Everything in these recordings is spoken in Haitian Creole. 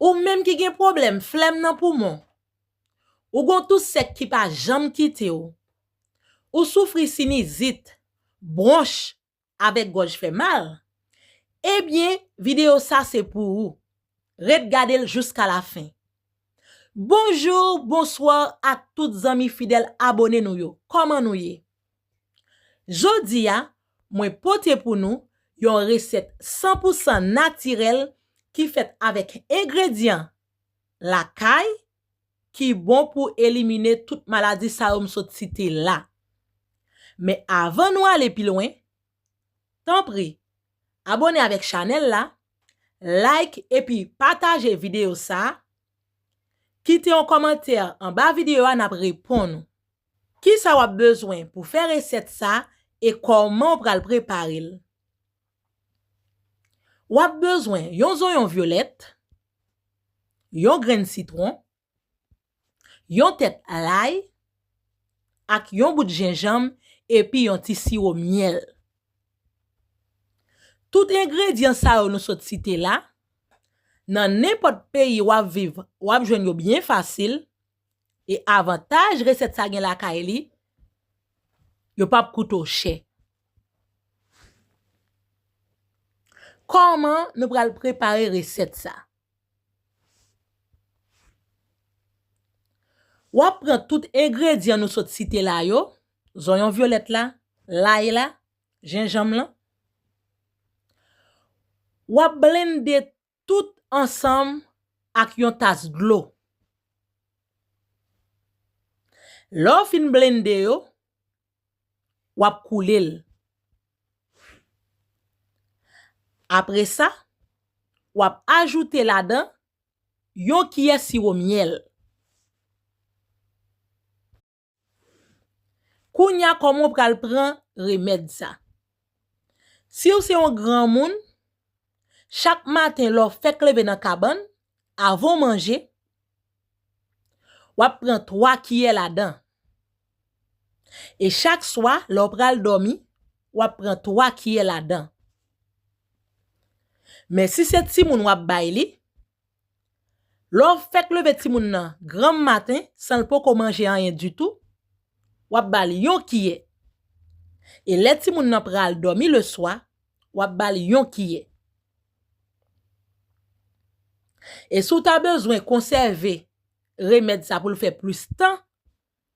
Ou menm ki gen pwoblèm flèm nan poumon, ou gon tou sèk ki pa janm kite w, ou soufri sinizit, bwonch, avèk gòj fè mal, ebyen videyo sa se pou ou. Ret gade l jouska la fen. Bonjour, bonsoir ak tout zanmi fidèl abone nou yo. Kòman nou ye? Jodi a, mwen pote pou nou yon resèt 100 pou 100 natirèl ki fèt avèk engredyan lakay ki bon pou elimine tout maladi sa yo m sot site la. Men avan nou ale pi lwen, Tanpri abone avèk chanèl la, like epi pataje videyo sa, kite yon kòmantè anba videyo a nap reponn ou. Kisa wap bezwen pou fè resèt sa e kòman ou pral prepare l? Wap bezwen yon zonyon vyolèt, yon grenn sitwon, yon tèt lay ak yon bout jenjanm epi yon ti siwo myèl. Tout engredyan sa yo nou sot site la, nan nenpòt peyi w ap viv w ap jwenn yo byen fasil e avantaj resèt sa gen lakay li, yo p ap koute w chè. Kòman nou pral prepare resèt sa? Wap pran tout engredyan nou sot site la yo, zonyon vyolèt la, lay la, jenjanm lan. Wap blende tout ansanm ak yon tas dlo. Lè w fin blende yo, wap koulel apresa wap ajoute ladan yon kiyè siwo myèl kounya kòman w pral pran remèd sa siw se yon granmoun chak maten lèw fèk leve nan kabann Avan w manje, w ap pran 3 kiyè ladan. E chak swa, lè w pral dòmi, w ap pran 3 kiyè ladan. Men si se timoun w ap bay li, lè w fèk leve timoun nan granm maten, san l poko manje anyen ditou, w ap ba l yon kiyè. E lè timoun nan pral dòmi leswa, w ap ba l yon kiyè. E si w ta bezwen konsève remèd sa pou l fè plis tan,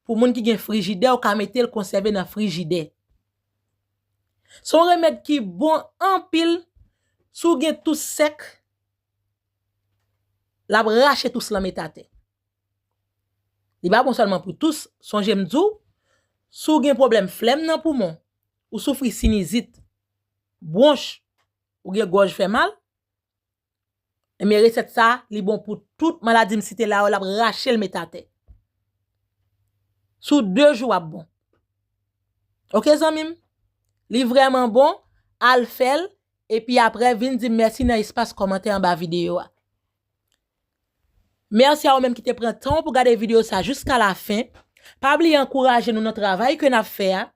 pou moun ki gen frijidè, ou ka mete l konsève nan frijidè. Se yon remèd ki bon anpil, si w gen tous sèk, l ap rache tous lan met atè. Li pa bon sèlman pou tous, sonje m di w, si w gen pwoblèm flèm nan poumon, ou soufri sinizit, bwonch, Ou gen gòj fè mal? Ebyen resèt sa li bon pou tout maladi m site la yo lap rache l met atè. Sou 2 jou wap bon. Ok zanmi m? Li vrèman bon, al fè l epi aprè vin di m mèsi nan espas kòmantè anba videyo a. Mèsi a ou menm ki te pran tan w pou gade videyo sa jiska lafen. Pa bliye ankouraje nou nan travay ke nap fè a.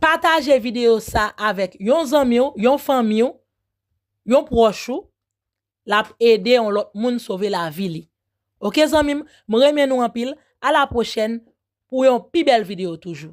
Pataje videyo sa avèk yon zanmi w, yon fanmi w, yon pwòch ou, l ap ede yon lòt moun sove lavi li. Ok zanmi m, m renmen nou anpil, a la pwochèn pou yon pi bèl videyo toujou.